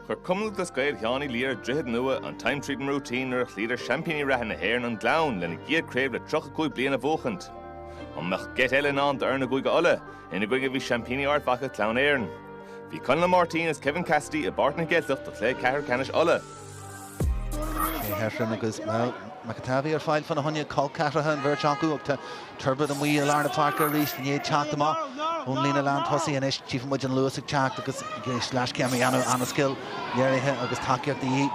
Chuir Cumann Lúthchleas Gael Sheáin Uí Laoire, Droichead Nua, an Time Treatin' Routine nuair a chloíodar seaimpíní reatha na hÉireann an Gleann lena gcéad craobh le 35 bliain a bhuachaint. An mbeadh geit eile i ndán d'fhoirne Chúige Uladh, ina gcoinne a bhí seaimpíní Ard Mhacha Clann Éireann? Bhí Conall Máirtín is Kevin Cassidy i bPáirc na gCeilteach do chluiche ceathrú ceannais Uladh. Shea Heffron agus Mel McAtavey ar fáil fá na hionaid cholceathraithe, an bheirt acu agus Turbitt amuigh i lár na páirce arís i ndiaidh teacht amach ón líne lántosaigh. Anois tífidh muid an luas ag teacht agus ag éisteacht leis, céim a dhéanamh an-scill léirithe agus tacaíocht de dhíth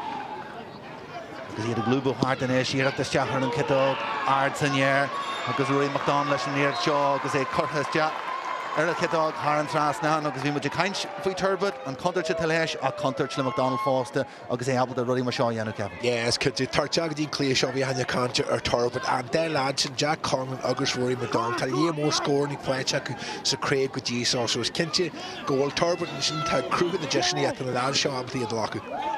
agus iad ag lúbadh thart anois. Iarracht isteach ar an chiotóg ard san aer agus Ruairí McDonald leis an iarracht seo agus é curtha isteach ar an chiotóg thar an trasnán agus bhí muid ag caint faoi Turbitt, an chontúirt atá leis, ach contúirt le McDonald fosta agus é ábalta rudaí mar seo a dhéanamh, Kevin. Yeah, is cinnte. Teacht isteach go dtí an cluiche seo bhí a lán cainte ar Turbitt. An dá leaid sin, Jack Conlon agus Ruairí McDonald, tá líon mór scórannaí faighte acu sa chraobh go dtí seo, so is cinnte go bhfuil Turbitt ansin ag cruthú na deiseanna atá na leaids seo ábalta iad a ghlacadh.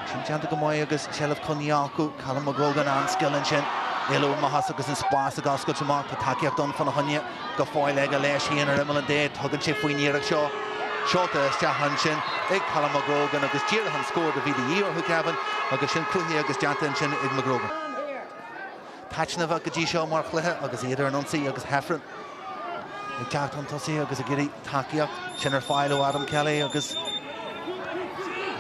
Sin déanta go maith agus seilbh coinnithe acu. Callum McGrogan an-scil ansin. Éalú amach as agus an spás ag oscailt amach. Tá tacaíocht ann fána choinne. go fóill ag éalú ansin ar imeall an D. Tugann sé faoin iarracht seo. Seoltar isteach ansin ag Callum McGrogan agus díreach an scór a bhí de dhíth orthu, Kevin, agus sin cruthaithe agus déanta ansin ag McGrogan. taitneamhach go dtí seo mar chluiche agus iad ar an ionsaí agus Heffron ag teacht chun tosaigh agus ag iarraidh tacaíocht. Sin ar fáil ó Adam Kelly agus.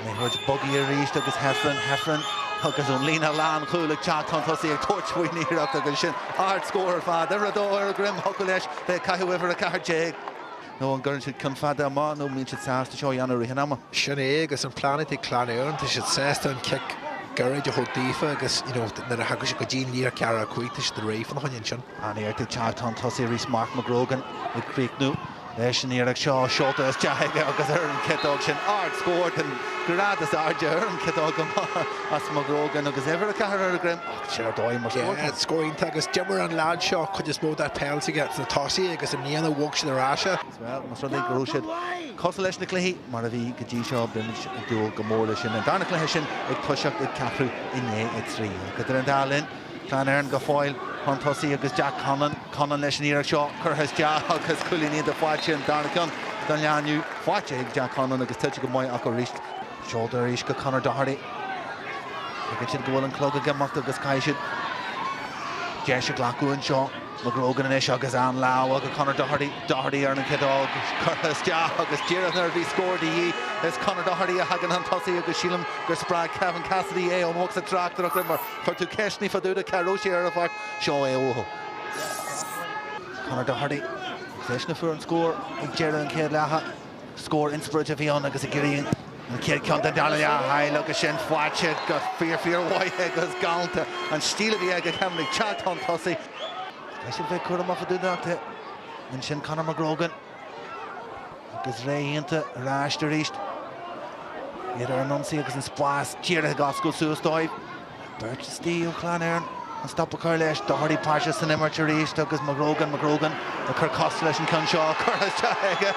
Liathróid bogtha arís agus Heffron, Heffron agus an líne lánchúil ag teacht chun tosaigh, ag tabhairt faoin iarracht agus ansin ardscór ar fad. Uimhir 2 ar a dhroim, thiocfadh leis bheith ag caitheamh uimhir 14. Nó an gcuireann siad ceann fada amach nó an mbíonn siad sásta seo a dhéanamh i rith an ama? Sin é agus an plean ag Clann Éireann, tá siad sásta an cic gairid a thabhairt daofa agus, you know, nuair a thagann siad go dtí an líne ceathracha cúig, tá siad réidh fána choinne ansin. An-iarracht ag teacht chun tosaigh arís, Mark McGrogan ag críochnú. Leis an iarracht seo seolta isteach aige agus ar an chiotóg sin, ardscór den ghrád is airde ar an chiotóg ó Mark McGrogan agus uimhir a ceathair ar a dhroim ach sin ar dóigh mar scór, Kevin. Scór iontach agus d'imir an leaid seo cuid is mó dá pheil s'aige sna tosaithe agus i mbliana bhog siad ar ais é. Bhuel, más rud é go raibh siad cosúil leis na cluichí mar a bhí go dtí seo, beimid ag dúil go mór leis sin. An darna cluiche sin ag toiseacht ag ceathrú i ndiaidh a trí. Ach idir an dá linn, Clann Éireann go fóill chun tosaigh agus Jack Conlon, Conlon leis an iarracht seo curtha isteach agus cúilíní do Phat sin an darna ceann don leaid inniu. Faighte ag Jack Conlon agus tuillte go maith acu arís. Seoltar arís go Conor Doherty. Tuigeann siad go bhfuil an clog ag imeacht agus caithfidh siad deis a ghlacadh anseo. McGrogan anois agus an lámha go Conor Doherty. Doherty ar an chiotóg agus curtha isteach agus díreach nuair a bhí scór de dhíth, is Conor Doherty a thagann chun tosaigh agus sílim gur spreag Kevin Cassidy é ón bhosca tráchtaireacht. Chuir tú ceist ní fadú di cá raibh sí ar a bhealach. Seo é uathu. Conor Doherty, eisean a fuair an scór ag deireadh an chéad leatha. Scór inspioráideach a bhí ann agus a gcíoraíonn an chéad ceann den dara leath thall agus sin faighte go fíor fíor mhaith agus galánta. An stíl a bhí aige Kevin ag teacht chun tosaigh. Tá siad bheith cúramach i dtús an leath. Ansin Conor McGrogan. Agus ré iontach ar ais arís. Iad ar an ionsaí agus an spás díreach ag oscailt suas dóibh. Beirt istigh ó Chlann Éireann chun stop a chur leis. Doherty páirteach san imirt arís agus McGrogan, McGrogan ag cur cos leis an ceann seo. Curtha isteach aige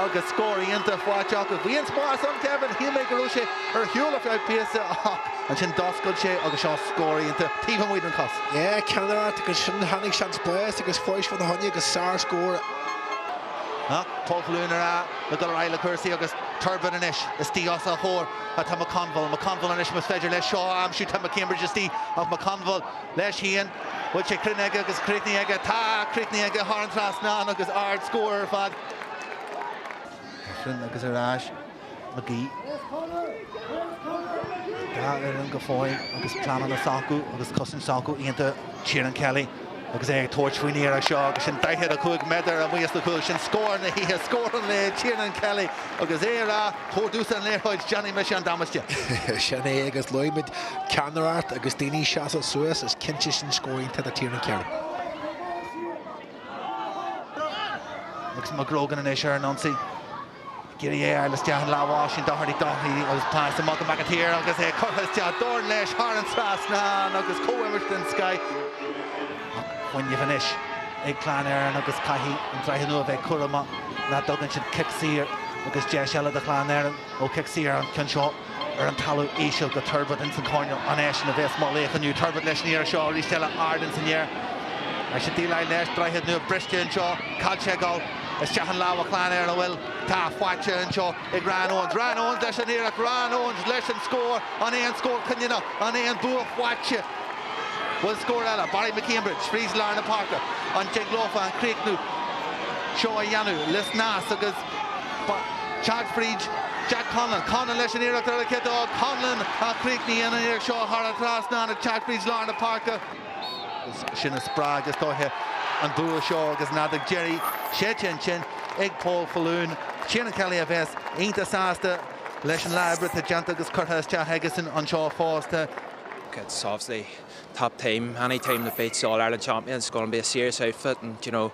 agus scór iontach faighte acu. Bhí an spás ann Kevin, shíl mé go raibh sé ar shiúl ar feadh píosa ach ansin d'oscail sé agus seo scór iontach taobh amuigh den chos. Ceannaire agus ansin tháinig seans spáis agus fáisc Vaughan Honey agus sár scór. Ach tá Clann Éireann ag dul ar aghaidh le cúrsaí agus Turbitt anois istigh os a chomhair atá McConville. McConville anois más féidir leis seo a aimsiú tá McCambridge istigh ach McConville leis fhéin. Bhfuil sé cruinn aige agus críochnaithe aige? Tá críochnaithe aige thar an trasnán agus ard scór ar fad. Mar sin agus ar ais McGee. An dá fhoireann go fóill agus pleananna s'acu agus cosaint s'acu iontach Tiernan Kelly agus é ag tabhairt faoin iarracht seo agus sin 45 méadar amuigh as an chúl. Sin scór na hoíche, scór an lae, Tiernan Kelly agus é ag rá tabhair domhsa an liathróid déanfaidh mise an damáiste. Sin é agus luaigh muid ceannaireacht agus daoine ag seasamh suas, is cinnte sin scór iontach do Tiernan Kelly. Agus McGrogan anois ar an ionsaí. Ag iarraidh é a fháil isteach i lámha Oisín Doherty, Doherty agus pas amach go McAteer agus é curtha isteach. Dorn leis thar an trasnán agus comhimirt den scoith. Ach fuinneamh anois ag Clann Éireann agus caithfidh an Droichead Nua a bheith cúramach nach dtugann siad cic saor agus deis eile do Chlann Éireann ó chic saor an ceann seo. ar an talamh íseal go Turbitt ins an coirneal an eisean a bhéas mar laoch inniu Turbitt leis an iarracht seo arís eile ard ins an aer leis an díleáil leis droichead nua briste anseo caillte ag dul isteach i lámha Chlann Éireann an bhfuil tá faighte anseo ag Ryan Owens Ryan Owens leis an iarracht Ryan Owens leis an scór an é an scór cinniúnach an é an bua faighte bhfuil scór eile Barry McCambridge fríd lár na páirce an dtig leofa an críochnú seo a dhéanamh le snas agus Ag teacht fríd Jack Conlon. Conlon leis an iarracht ar an chiotóg Conlon a chríochnaíonn an iarracht seo thar an trasnán ag teacht fríd lár na páirce. Sin a spreag is dóiche an bua seo agus an fheadóg dheiridh séidte ansin ag Paul Faloon. Tiernan Kelly a bheas iontach sásta leis an lá oibre atá déanta agus curtha isteach aigesan anseo fosta. It's obviously top team, any team that beats the All Ireland champions is going to be a serious outfit and, you know,